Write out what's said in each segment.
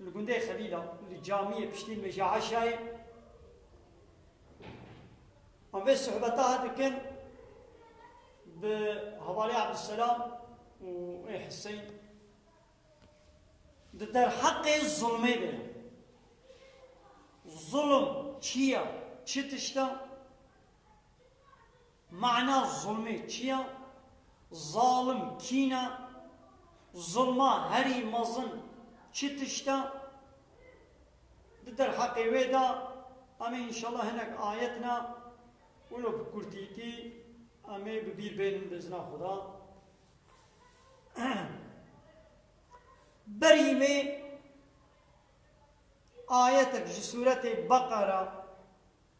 Li gundê Xelîla li camiyê piştî Meja Eşayê em vê sohbeta dikin bi hevalê Abdulselam û ê Hiseyn di derheqê zulmê de ye. Zulm çi ye? Çi tişt e? Mana zulmê çi ya? Zalim kîn e? Zulma herî mezin çi tişt e? Di derheqê wê de em ê înşallah hinek ayet ne wilo bi kurtîtî em ê bi bîr bênin bi îzna Xuda. Berî wê ayetek ji sûretê Beqera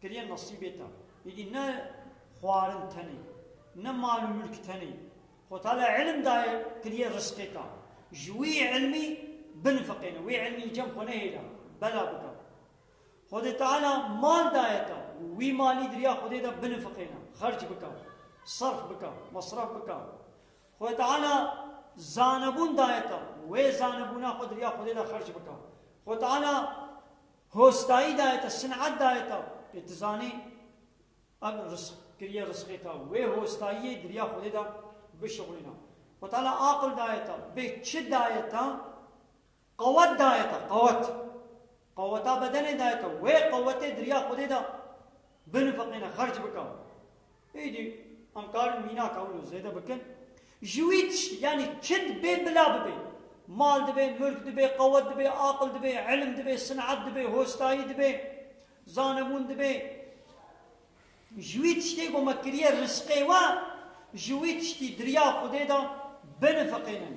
Kiriye nasîbê te. Îdî ne xwarin tenê, ne mal û mulk tenê. Xwetala îlim daye, kiriye risqê te. Ji wî îlmî binifiqêne, wê îlmî li cem xwe nehêle, bela bike. Xwedê Teala mal daye te, wî malî di riya Xwedê de binifiqêne, xerc bike, serf bike, mesref bike. Xwedê Teala zanebûn daye te, wê zanebûna xwe di riya Xwedê de xerc bike. Xwedê Teala Hostayî daye te, sinet daye te pê tu zanê ev risq kiriye risqê te û wê hostayiyê di riya Xwedê de bişuxulîna. Xwe Teala aqil daye te, vê çi daye te? Qewet daye te, qewet. Qeweta bedenê daye te, wê qewetê di riya Xwedê de binifiqîne, xerc bike. Êdî em karin mînaka wilo zêde bikin. Ji wî tiştî yanî çi dibê bila bibê. Mal dibê, mulk dibê, qewet dibê, aqil dibê, îlim dibê, sineat dibê, hostayî dibê, zanebûn dibê. Ji wî tiştê ku me kiriye risqê we, ji wî tiştî diriya Xwedê de binifiqînin.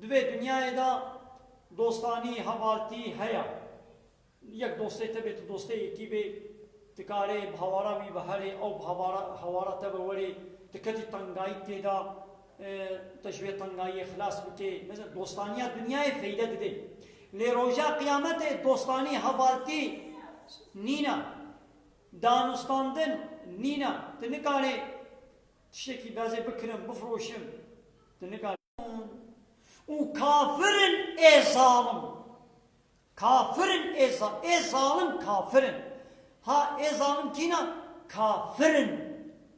Di vê dinyayê de dostanî, hevaltî heye. Yek dostê te bê, tu dostê yekî bê, tu karê bi hawara wî ve herê, ew bi hawara hawara te ve werê, tu ketî tengayî tê de, te ji vê tengayiyê xilas bikê. Mezin dostaniya dinyayê feyde dide. Lê roja qiyametê dostanî, hevaltî nîne. Danûstandin nîne. Tu nikarê Tiştekî bezê bikirin, bifroşin, tu nikarî. Û kafir in ê zalim. Kafir in ê zalim. Ê zalim kafir in. Ha ê zalim kîna? Kafir in.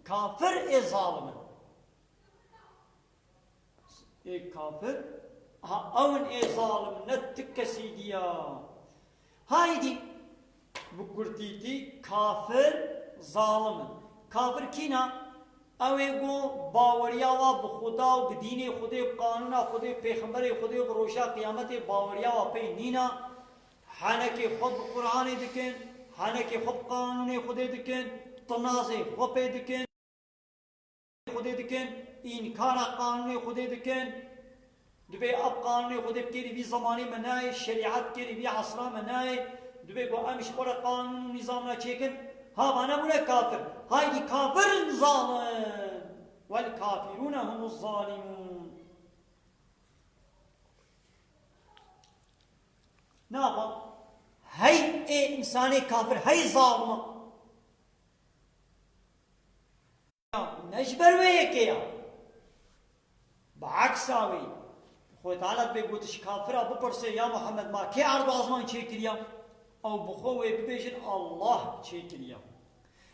Kafir ê zalim in. Ê kafir, ha ew in ê zalim ne ti kesî diya. Haydî, bi kurtîtî kafir zalim in. Kafir kîn a? Ew ê ku baweriya wa bi Xuda û bi dînê Xwedê, bi qanûna Xwedê û pêxemberê Xwedê û bi roja qiyametê baweriya wa pey nîn a, henekê xwe bi Quranê dikin, henekê xwe bi qanûnê Xwedê dikin, tinazê xwe pê dikin, Xwedê dikin, înkara qanûnê Xwedê dikin. Divê ev qanûnê Xwedê bi kêrî vî zemanê me nayê, şerîat bi kêrî vî esra me nayê. Divê ku em ji xwe re qanûn û nîzam re çêkin. Ha va nebûne kafir. Haydî kafir in zalim. Wel kafîrûne humuz zalîmûn. Nava hey ê însanê kafir hey zalim e. Ne ji ber wê yekê ya. Bi eksa wî, xwe talet bê gotiş kafira bipirsê ya Muhammed ma kê erdê asman çêkiriya? Ew bi xwe wê bibêjin Allah çêkiriya.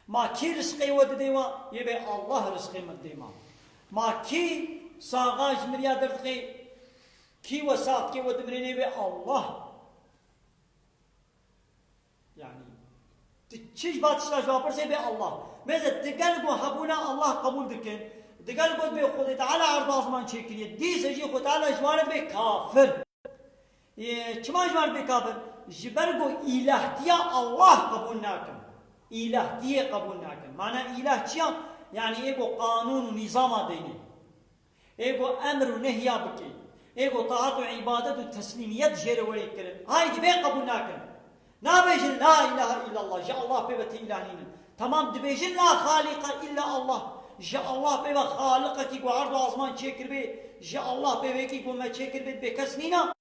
Ma kê risqê we didê wa? Yê bê Allah risqê min didê ma. Ma kê saxa ji miriya derdixê? Kî we sax dikê we dimirê nê bê Allah. Yanî tu çi ji van tiştan ji wan pirsê bê Allah. Mêze tu gel got hebûna Allah qebûl dikin, tu gel got bê Xwedê Teala erza ziman çêkiriye, dîsa jî Xwedê Teala ji wan re bê kafir. Yê çima ji wan re bê kafir? Ji ber ku îlahtiya Allah qebûl nakin. Îlahtiyê qebûl nakin. Mana îlah çi ya? Yanî ê ku qanûn û nîzama deynê. Ê ku emr û nehya bike, ê ku taat û îbadet û teslîmiyet jê re were kirin, hay divê qebûl nakin. Nabêjin La îlahe îllallah, ji Allah pê ve tê îlah nîne. Temam dibêjin La xalîqe îlla Allah, ji Allah pê ve xaliqekî ku erd û asman çêkiribê, ji Allah pê wekî ku me çêkiribê dibê kes nîne.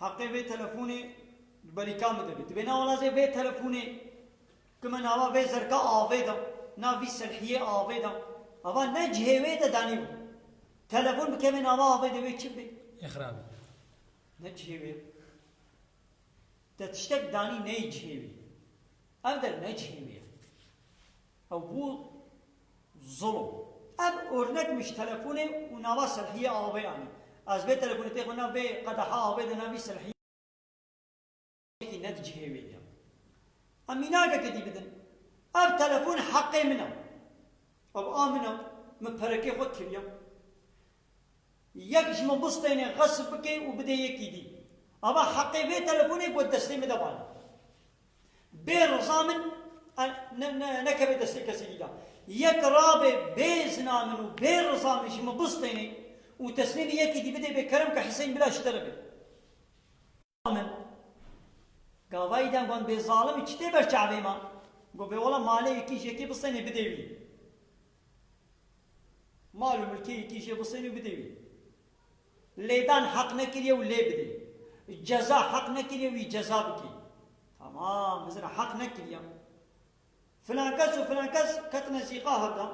Heqê vê telefonê di berî ka min de bî. Dibêne alazê vê telefonê ki me nava vê zerka avê da, nav vî selhiyê avê da. Ava ne cihê wê de danîbû. Telefon bikeve nava avê de wê çi bê? Îqrar bû. Ne cihê wê ye. Te tiştek danî neyê cihê wê. Ev der ne cihê wê ye. Ew bû zulm. Ev ornek min ji telefonê û nava Selhiyê Avê anî. Ez vê telefonê tê xwe nav vê qedeha avê de navî Selhiyê yekî ne di cihê wê de ye. Em mînakeke dî bidin. Ev telefon heqê min e. Ew a min e. Min perekê xwe kiriye. Yek ji min bistêne xesf bike û bide yekî dî. Ava heqê vê telefonê ku destê min de bane. Bê riza min nekeve destê kesekî de. Yek rabe bê zina min û bê riza min ji min bistêne û teslîmî yekî dî bide bê kerem ke Hîseyn bila ji te re be. Min gavayî dem got bê zalimî çi tê ber çavê me? Got bê wala malê yekî ji yekê bistêne bidê wî. Mal û milkê yekî jê bistêne û bidê wî. Lêdan heq nekiriye û lê bidê. Ceza heq nekiriye wî ceza bikê. Tamam, bizira heq nekiriya. Filankes û filankes ketine zîqaha da.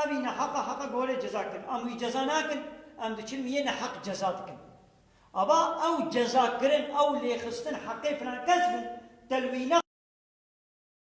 Ev î neheq e, heqe bi werê ceza kirin. Em wî ceza nakin, em diçin wî yê neheq ceza dikin. Ava ew cezakirin, ew lêxistin heqê filankes bû, telwîna.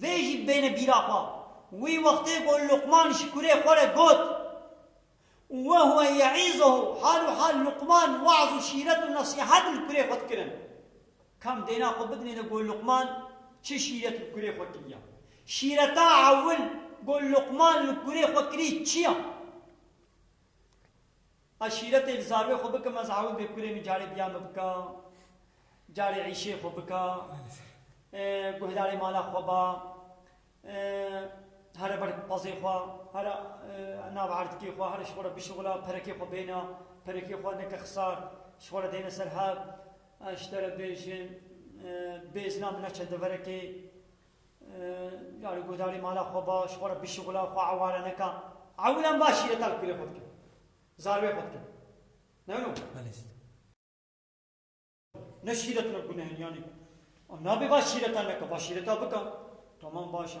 Vê jî bêne bîra xwe, wî wextê ku Luqman ji kurê xwe re got, Ve huwe ye'izuhu, hal û hal Luqman we'z û şîret û nesîhet li kurê xwe dikirin. Kam dêna xwe bidinêne ku Luqman çi şîret li kurê xwe kiriya? Şîreta ewil ku Luqman li kurê xwe kirî çi ya? Eşîretê li zarwê xwe bikim ez ewil bê kurê min carê diya min bika, carê îşê xwe bika, guhdarê mala xwe ba, here ber pezê xwe, here nav erdikê xwe, here ji xwe re bişuxula, perekê xwe bêne, perekê xwe neke xisar, ji xwe re dêne ser hev, ez ji te re bêjim bêzna min neçe deverekê. Yarî guhdarî mala xwe ba, ji xwe re bişixula, xwe eware neka. Ewlan ba şîreta li kurê xwe dike. Zarvê xwe dike. Ne no? Belê. Ne şîret ne gunehên yanî. Nabê va şîreta neka, va şîreta bika. Tamam baş e.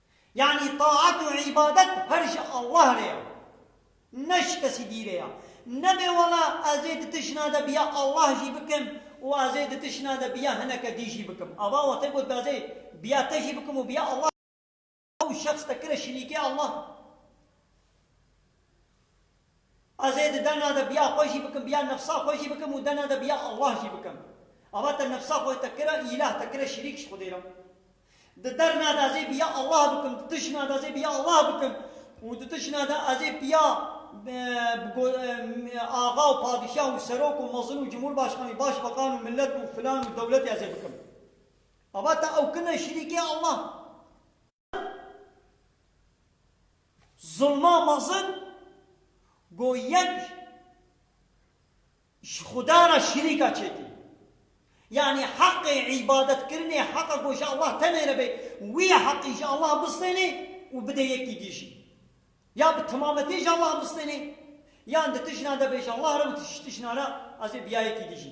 Yanî taat û îbadet her ji Allah re ya, ne ji kesî dî re ya. Nebe wala ez ê di tijna de bi ya Allah jî bikim û ez ê di tijna de bi ya hineke dî jî bikim. Ava wa te got bi ez ê bi ya te jî bikim û bi ya Allah jî bikim. Ew şexs te kire şirîkê Allah. Ez ê di dana de biya xwe jî bikim, biya nefsa xwe jî bikim û dana de biya Allah jî bikim. Ava te nefsa xwe te kira îlah, te kira şirîk ji Xwedê re. Di derna de ez ê biya Allah bikim, di tijna de ez ê biya Allah bikim û di tijna de ez ê biya axa û padîşah û serok û mezin û cumhurbaşxanî, başbakan û milet û filan û dewletê ez ê bikim. Ava te ew kin e şirîkê Allah. Zilma mezin ku yek ji Xuda re şirîka çêkir. Yanî heqê îbadetkirinê, heqa ku ji Allah tenê re be, wî heqî ji Allah bistênê û bide yekî dî jî. Ya bi temametî ji Allah bistênê, yan di tijna de be ji Allah re û ji tijna re ez ê bi ya yekî dî jî.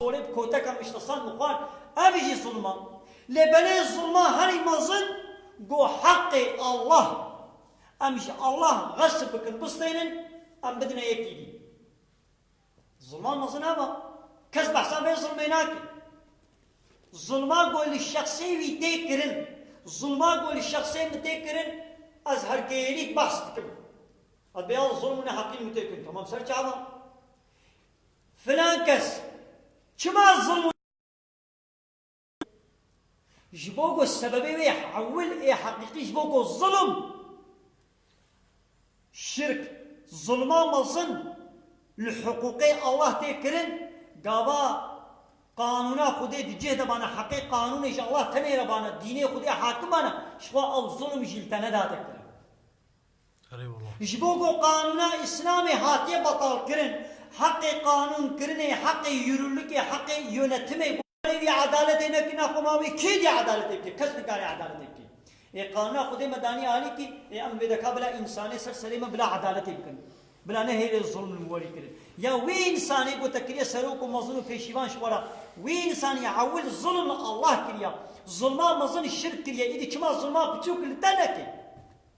Porê bi koteka mîştestan mixwar, ev jî zulm a. Lê belê zulma herî mezin ku heqê Allah, em ji Allah xesp bikin, bisteynin, em bidine yekî dî. Zulma mezin ev a. Kes behsa vê zulmê nake. Zulma ku li şexsê wî tê kirin, zulma ku li şexsê min tê kirin, ez her kêyerî behs dikim. Ev bêyal zulm û neheqî min tê kirin. Tamam ser çavan. Filan kes çima zilm û ji bo ku sebebê wê hewil ê heqîqî ji bo ku zilm, şirk, zilma mezin li hiqûqê Allah tê kirin, gava qanûna Xwedê di cih de bana heqê qanûnê ji Allah tenê re bana, dînê Xwedê hakim bana, jixwe ew zilm jî li te nedate kirin. Ji bo ku qanûna Îslamê hatiye betalkirin, heqê qanûnkirinê, heqê yûrûlikê, heqê yûnetimê bû. Erê wî edaletê nekirina xwe ma wê kê dê edaletê bike? Kes nikare edaletê bike. Ê qanûna Xwedê me daniye alî kî ê em wê deka bila însanê ser serê me bila edaletê bikin. Bila nehêle zulm li me werî kirin. Ya wê însanê gote kiriye serok û mezin û pêşîvan ji we re. Wê însanê ewil zulm li Allah kiriya. Zulma mezin şirk kiriye. Îdî çima zulma piçûk li te neke?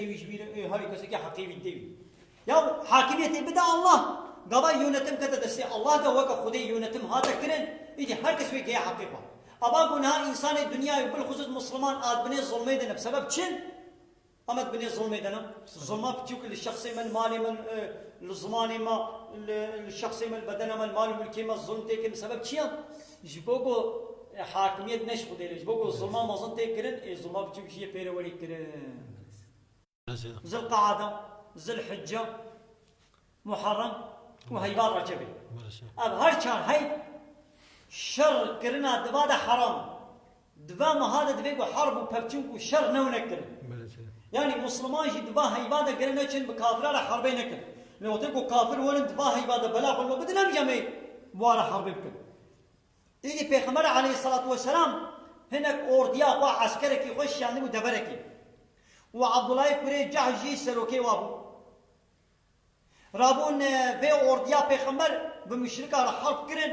Wî ji wî re ê herî kesekî heqê wî tê wî. Ya hakimiyetê bide Allah. Gava yonetim kete destê Allah de weke Xwedê yonetim hate kirin, îdî her kes wê geye heqê xwe. Ava ku niha însanê dinyayê û bilxusûs musliman a di binê zilmê de ne bi sebeb çi in? A me di binê zilmê de ne? Zilma piçûk in li şexsê me, li malê me, li zimanê me, li şexsê me, li bedena me, li mal û milkê me zilm tê kirin bi sebeb çi ya? Ji bo ku hakimiyet neşixulêre, ji bo ku zilma mezin tê kirin ê zilma biçûk jî yê pê re werî kirin. Zilqeada, Zilhicce, Muherem û Heybar Recebê. Ev her çar hey şer kirina diva de heram in. Di va meha de divê ku harb û pevçûnk û şer newne kirin. Yanî musliman jî di va heyva de gire neçin bi kafira re herbê nekin. Lê wextê ku kafir werin di va heyva de bela xwe li we bidin nemîje em ê bi wan re herbê bikin. Îdî pêxember aleyhîsselatu weselam hinek ordiya xwe eskerekî xwe şiyandibû deverekê û Abdullayê kurê Cahş jî serokê wa bû. Rabûn vê ordiya pêxember bi muşrikan re herb kirin.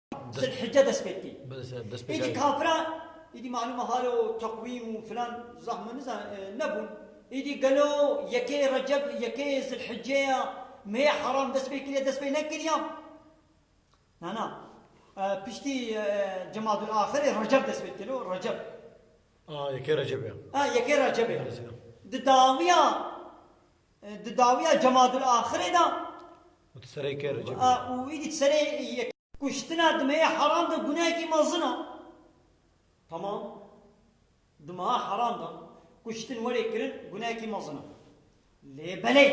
Zilhicce dest pê dikê. Êdî kafiran êdî malûma halo teqwîm û filan zahme nizan nebûn. Êdî gelo yekê Receb yekê Zilhicce ya mêya heram dest pê kiriye dest pê nekiriya? Na na. Piştî Cemadul Axirê Receb dest pê dikelo Receb. A yekê Receb ya. A yekê Receb ya. Di dawiya Di dawiya Cemadul Axirê de û di serê kê Recebê de. Û îdî di serê yekê. Kuştina di meyê heram de gunehekî mezin a. Tamam. Di meha heram de kuştin werê kirin gunehekî mezin a. Lê belê.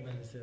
Belê sê.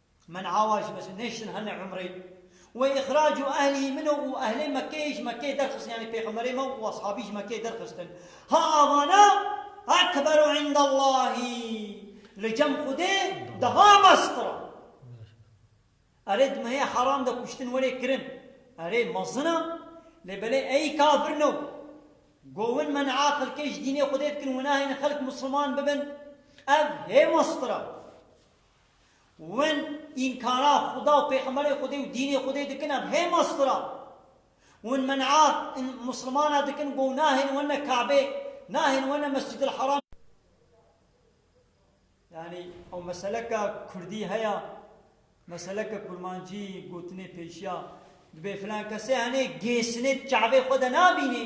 Min awa ji Mesûd nêştin hene umrê. Wê îxrac û ehlî min û ehlê Mekkeyê ji Mekkeyê derxistin yanî pêxemberê me û eshabî ji Mekkeyê derxistin. Ha avana ekberu indellahî li cem Xwedê daha meztir a. Erê di mehê heram de kuştin werê kirin erê mezin a lê belê ey kafir no. Govin men'a xelkê ji dînê Xwedê dikin û nahêlin xelk misilman bibin ev hê meztir a. Wen înkara Xuda û Pêxemberê Xwedê û dînê Xwedê dikin ev hêma sifir a. Wen men'a Muslimana dikin go nahêlin wene Kabê, nahêlin wene Mescidil Haram. Yanî ew meseleka Kurdî heya, meseleka Kurmancî, gotinê pêşiya, dibê filan kesê henê gêsinê di Kabê xwe de nabînê,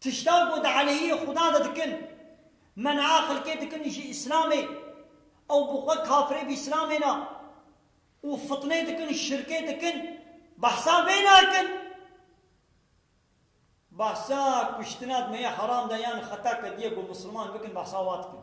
Tiştan ku di aleyhî Xuda de dikin, me niha xelkê dikin ji Îslamê ew bi xwe kafirê bi Îslamê ne û fitnê dikin, şirkê dikin, behsa vê nakin. Behsa kuştina di me ya heram de yan xeta kediye ku misilman bikin behsa wa dikin.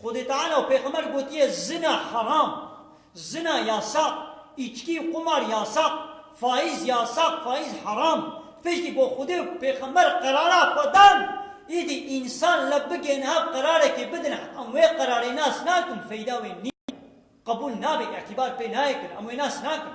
Xwedê Teala û Pêxember gotiye zina heram, zina yasak, îçkî û qumar yasak, faiz yasak, faiz heram. Piştî ku Xwedê û Pêxember qerara xwe dan, îdî însan li bigê niha qerarekê bidin em wê qerarê nas nakin, feyda wê nîye, qebûl nabe, îtîbar pê nayê kirin, em wê nas nakin.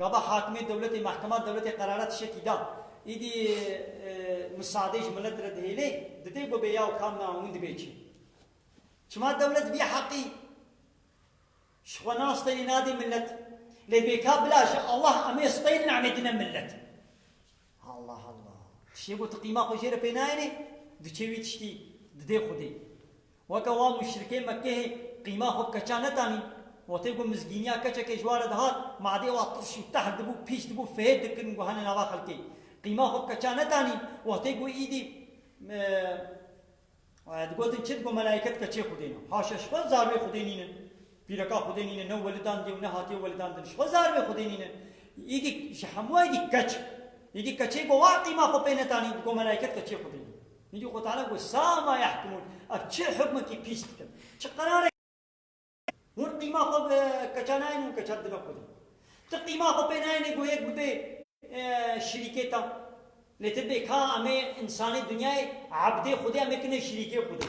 Gava hakimê dewletê mehkema dewletê qerara tişekî da. Îdî misadê ji milet re dihêlê, didê ku bê yaw kam na hûn dibê çi. Çima dewlet vî heqî ji xwe na steyê nadê milet. Lê bêka bila ji Allah em ê steyê namedine milet. Allah Allah. Tiştê ku tu qîma xwe jê re pê nayênê, diçe wî tiştî didê xwedê. Weke wan muşrikê Mekkehê qîma xwe bi keça netanîn. Wetê ku mizgîniya keçekê ji ware dihat, madê wa tirş û tehr dibû, pîç dibû, fêhêd dikirin ku hene nava xelkê. Qîma xwe bi keça netanîn. Wetê ku îdî digotin çi dibû, melayîket keçê xwe dêne. Haşa ji xwe zarûyê xwe dê nînin. Pîreka Xwedê nîne ne welidandiye û ne hatiye welidandin. Ji xwe zarbê Xwedê nîne. Îdî ji hemû êdî keç e. Îdî keçê ku wa qîma xwe pê netanî digo melayket keçê Xwedê nîne. Îdî Xwe Teala got, Sa ma yahkimûn, ev çi hukmekî pîs dikin, çi qerarek Hûn qîma xwe bi keça nayên û keça didine Xwedê. Ti qîma xwe pê nayênê ku yek bibe şirîkê te. Lê ti bê ka em ê însanê dinyayê ebdê Xwedê em ê kine şirîkê Xwedê.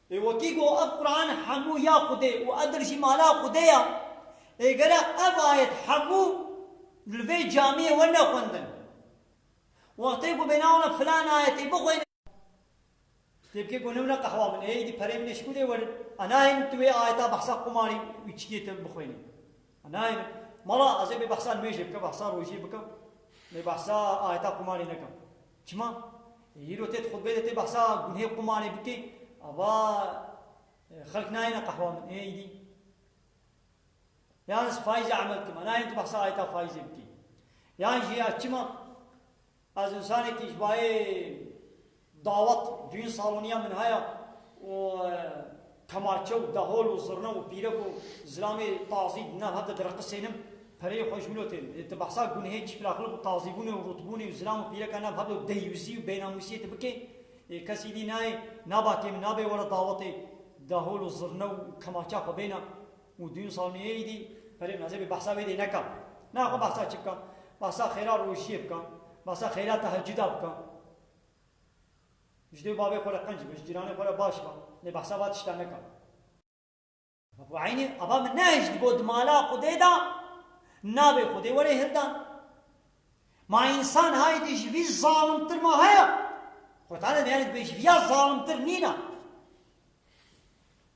Ê wekî got, Ev Quran hemû ya Xwedê û ev dir jî mala Xwedê ya. Ê gerek ev ayet hemû li vê camiyê we nexwendin. Wextê ku bêne wana filan ayetê bixwêne. Tê bike ku newna qehwa min ê, êdî pereyê min ê ji ku dê werin. Ez nahêlim tu wê ayeta behsa qumarî û içkiyê tevî bixwênî. Nayê min. Mala ez ê bêbehsa nimêjê bikim, behsa rojiyê bikim, bêbehsa ayeta qumanê nekim. Çima? Îro tê di xutbeyê de tê behsa gunhê qumanê bikê, ava xelk nayêne qehwa min. Ê îdî. Yan ez fayîzê emel dikim. Nayê min tu behsa ayeta fayîzê bikî. Yan jî ya çima Ez însanekî ji bayê dawet duyên saloniya min heye û kemaçe û dehol û zirne û pîrek û zilamê tazî di nav hev de direqisênim. Pereyê xwe ji min otin. Dê tu behsa gunehê çîflaxlik û tazîbûnê û rûtbûnê û zilam û pîreka nav hev de û deyyûzî û bênamûsiyê tu bikê. Ê kesî dî nayê, naba kêm, nabê were dawetê dehol û zirne û kemaça xwe bêna. Û dûn saniyê îdî perê min hezê bê behsa wê dê neka. Na xwe behsa çi bika? Behsa xêra rojiyê bika, behsa xêra teheccuda bika. Ji dê û bavê xwe re qenc be, ji cîranê xwe re baş be. Lê behsa va tiştan neka. Weke eynî ava min nehişt got mala Xwedê de navê Xwedê were hildan. Ma însan haydî ji vî zalimtir ma heye? Xwetane me yanî dibê ji vîya zalimtir nîna.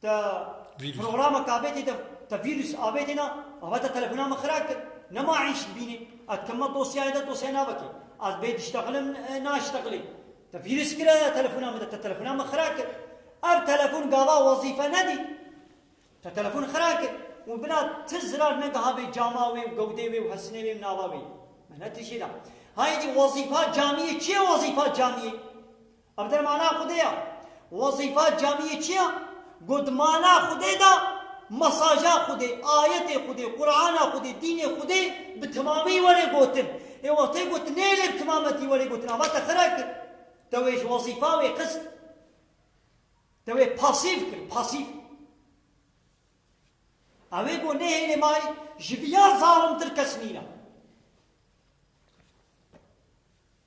Te programa ka avêtê de te vîrus avêtê na ava te telefona min xira kir. Ne ma îş dibînê. Ez dikim ma dosyayê de dosyayê na vekê. Ez bê diştexilim naştexilê. Te vîrus kire telefona min de. Te telefona min xira kir. Ev telefon gava wezîfe nedît. Te telefon xira kir. Û bila ti zirar negiha vê cama wê û gewdê wê û hesinê wê û nava wê. Me ne tije da. Hayê dî wezîfa camiyê çi ye wezîfa camiyê? Ev der mana Xwedê ya. Wezîfa camiyê çi ya? Got mana Xwedê da, mesaja Xwedê, ayetê Xwedê, Qur'ana Xwedê, dînê Xwedê bi timamî were gotin. Ê wextê got nêlê bi timametî were gotin ava te xira kir. Te wê ji wezîfa wê xist. Te wê pasîv kir, pasîv. Ew ê got nêhêlê ma ji viya zalimtir kes nîna.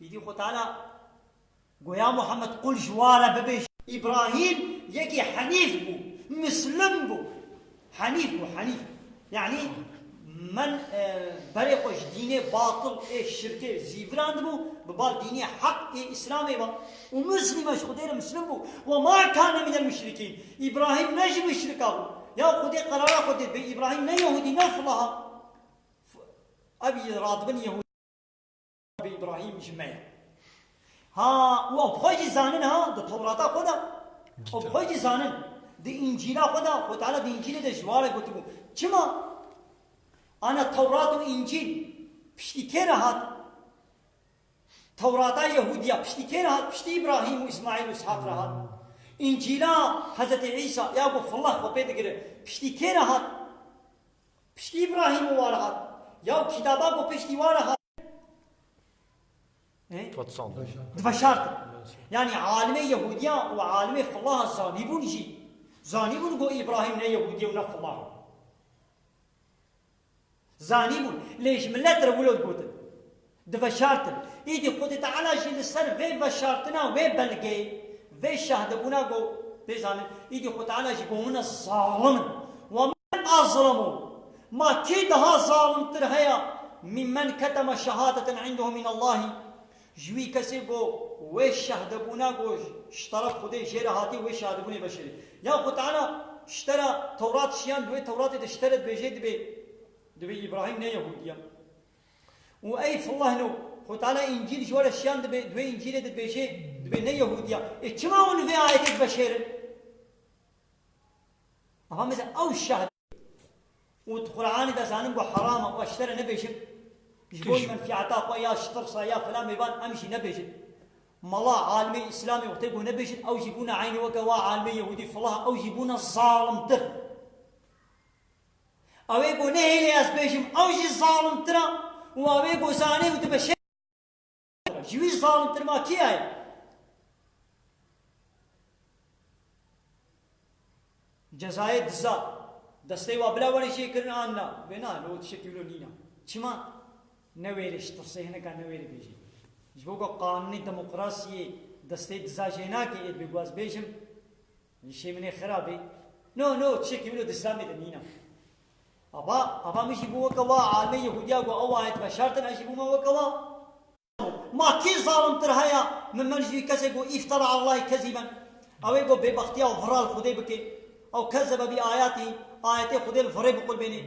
Îdî xwe tala goya Muhammed qul ji wa re bibêje. Îbrahîm yekî henîf bû, mislim bû. Henîf bû, henîf. Yanî men berê xwe ji dînê batil ê şirkê zîvirandibû, bi bal dînê heq ê îslamê ve û mislîm e ji Xwedê re mislim bû. Wa ma kane minel muşrikîn. Îbrahîm ne ji muşrikan bû. Ya Xwedê qerara xwe dê bi Îbrahîm ne yehûdî ne filaha. Ev radibin yehûdî. Bi Îbrahîm ji me ye. Ha wan bi xwe jî zanin ha di Tewrata xwe de û bi xwe jî zanin di Încîla xwe de Xwe Teala di Încîlê de ji ware gotibû. Çima? Ana Tewrat û Încîl piştî kê re hat? Tewrata Yehûdiya piştî kê re hat? Piştî Îbrahîm û Îsmaîl û Îshaq re hat. Încîla Hezretî Îsa ya ku Xwellah xwe pê digire piştî kê re hat? Piştî Îbrahîm û wan hat. Ya û kîtaba ku piştî wan hat diveşartin. Yanî alimê Yehûdiyan û alimê filahan zanîbûn jî. Zanîbûn ku Îbrahîm ne Yehûdî ye û ne filah e. Zanîbûn. Lê ji milet re wilo digotin. Diveşartin. Îdî Xwedî Teala jî li ser vê veşartina wê belgê, vê şahdebûna got, Bê zanin, îdî Xwedî Teala jî bo min e zalim in. Wa min a zilam o. Ma kî diha zalimtir heye min men ketema şehadeten indehu min Allahî. Ji wî kesê bo wê şahdebûna got ji teref Xwedê jê re hatî wê şahdebûnê veşarî. Yan Xwedî Teala şte ra Tewrat şiyan, di wê Tewratê de şte re dibêjê dibê dibê Îbrahîm ne Yehûdî ye. Û ey fwehno, xwe tala Încîl ji we re şiyan dibe, di wê Încîlê dibêje, dibê ne Yehûdiya. Ê çima hûn li vê ayetê dibişêrin? Ava meze ew şehd û di Quranê de zanin bû heram e, û ez ji te re nebêjim, ji bo menfîeta xwe ya ji tirsa ya filan mêvan em jî nebêjin. Mala alimê Îslamê wextê ku nebêjin ew jî bûne eynî weke wa alimê Yehûdî flah ew jî bûne zalimtir. Awê ku nehêlê ez bêjim ew jî zalimtir e û awê ku zanê û dibe şerm bike ji wî zalimtir ma kî heye? Cezayê diza destê wa bila werê jê kirin an na? Wê na, li we tişek dîwlo nîn e. Çima? Newêrê ji tirsê hinek newêrê bêjî. Ji bo ku qanûnê demokrasiyê destê diza jê nake ê bê ku ez bêjim Min şêminê xira bî. No, no, tişekî min û dislamê de nîna. Ava, ava min jî bû weke wa, almê Yehûdiya ku ew ayet veşartin, ez jî bûme weke wa. Ma kî zalimtir heye min men ji wî kesê ku îftar a Allahî kezîb in, ew ê ku bêbextiya û vira li Xwedê bike, ew kes dibe bî ayatî, ayetê Xwedê li virê biqulbênê,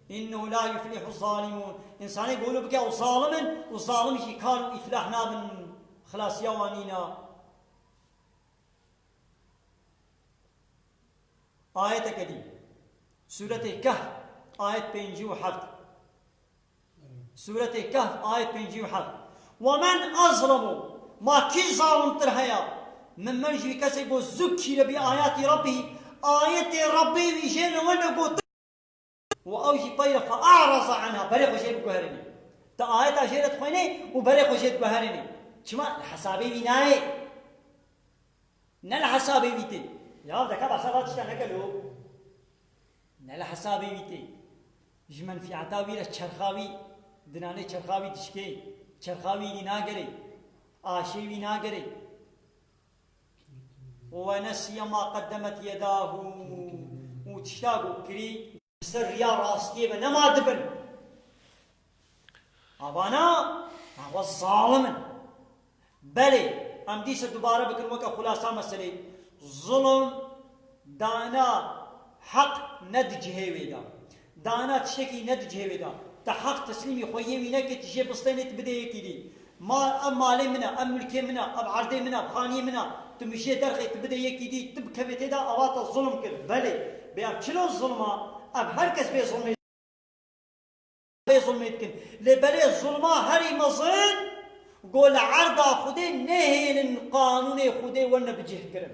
Innehu la yuflîhu zalîmûn, însanê ku wilo bike ew zalim in û zalim jî kal û îflah nabin, xilasiya wan nîna. Ayeteke dî Sûretê Kehf ayet pêncî û heft Sûretê Kehf ayet pêncî û heft Wemen azlemu ma kî zalimtir heye mimmen ji wî kesê ku zukîre bi ayatî Rabbî ayetê Rabbê wî jê li we ne gotin Û ew jî tayre fa a'raza anha, berê xwe jê biguherînê. Ti ayeta jê re dixwênê û berê xwe jê diguherînê. Çima? Li hesabê wî nayê. Ne li hesabê wî tê. Ya deka behsa va tiştan neke lû. Ne li hesabê wî tê. Ji menfîeta wî re çerxa wî dinanê çerxa wî dişkê. Çerxa wî nî nagerê. Aşê wî nagerê. Wenesiye ma qedemet yedahu û tişta got kirî. Li ser riya rastiyê ve nema dibin. Avana daxwa zalim in. Belê, em dîsa dubare bikin weke xulasa meselê. Zulm, dana, heq ne di cihê wê de. Dana tiştekî ne di cihê wê de. Ti heq teslîmî xwe yê wî nekê, ti jê bistênê, ti bidê yekî dî. Ma, ev malê min e, ev milkê min e, ev erdê min e, ev xaniyê min e, ti mijê derxê, ti bidê yekî dî, ti bikevê tê de, ava te zulm kir. Belê. Bê ev çil o zulm a? Ev her kes bê zulmê dikin. Bê zulmê dikin. Lê belê zulma herî mezin ku li erda Xwedê nehêlin qanûnê Xwedê wene bicihkirin.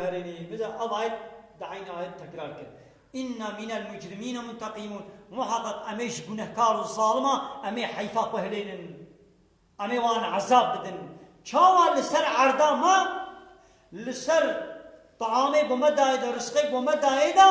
Herêmê min de ev ayet di eynî ayet tekrar kir, Înna mînel mucrimîne munteqîmûn, Muheqeq emê ji gunehkar û zaliman emê heyfa xwe hilênin, emê wan ezab bidin. Çawa li ser erda me, li ser taamê ku me dayê de, risqê ku me dayê de,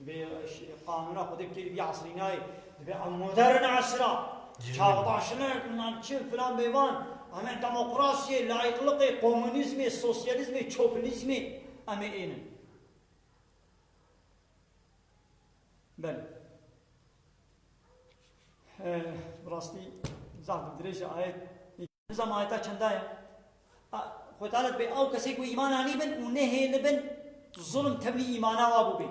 Divê qanûna Xwedê kêrî bîya esrî nayê. Divê em modern esra, çaxbaşinek, bilmem çi, filan bê van. Em ê demokrasiyê, layîqliqê, komûnîzmê, sosyalîzmê, çopinîzmê em ê ênin. Belê. Bi rastî zaf bi dirêj e ayet Nizam ayeta çenda ye. Xwe talet bê ew kesê ku îman anîbin û nehêlibin zulm tevlî îmana wa bûbê.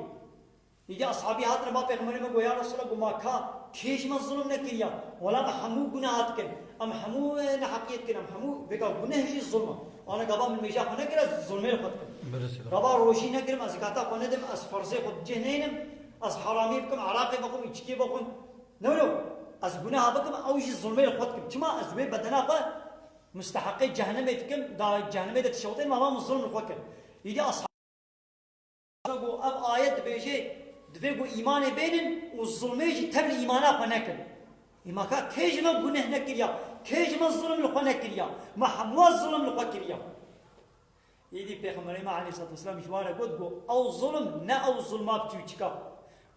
Îdî eshabî hatine ba pêxemberê me got ya Resûla got ma ka kê ji me zulm nekiriya? Wela me hemû guneha dikin. Em hemû neheqiyê dikin. Em hemû vêga guneh jî zulm e. Wana gava min mêja xwe nekir ez zulmê li xwe dikim. Gava rojî negirim, ez zekata xwe nedim, ez ferzê xwe bi cih nehêlim, ez heramî bikim, eraqê bixwim, îçikê bixwim. No no, ez guneha bikim ew jî zilmê li xwe dikim. Çima ez wê bedena xwe musteheqê cehenemê dikim, da cehenemê de dişewitê mama min zilm li xwe kir. Îdî Ashabî Kehf ku ev ayet dibêje divê ku îmanê bênin û zilmê jî tevlî îmana xwe nekin. Î ma ka kê ji me guneh nekiriya, kê ji me zilm li xwe nekiriya, me hemûa zilm li xwe kiriya. Êdî Pêxemberê me aleyhisselatûwesselâm ji wan re got, Go ew zulm ne ew zulma bi tûçika.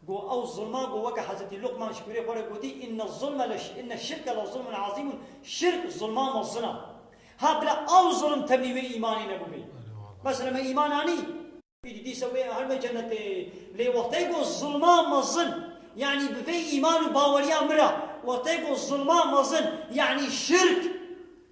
Go ew zulma go weke Hezretî Luqman ji kurê xwe re gotî, Inne zulme le inne şirke le zulmun azîmun, Şirk zulma mezin a. Ha bila ew zulm temî wê îmanê nebûbê. Mesela me îman anî. Êdî dîsa wê herime cenetê. Lê wextê go zulma mezin, yanî bi vê îman û baweriya min re, wextê go zulma mezin, yanî şirk,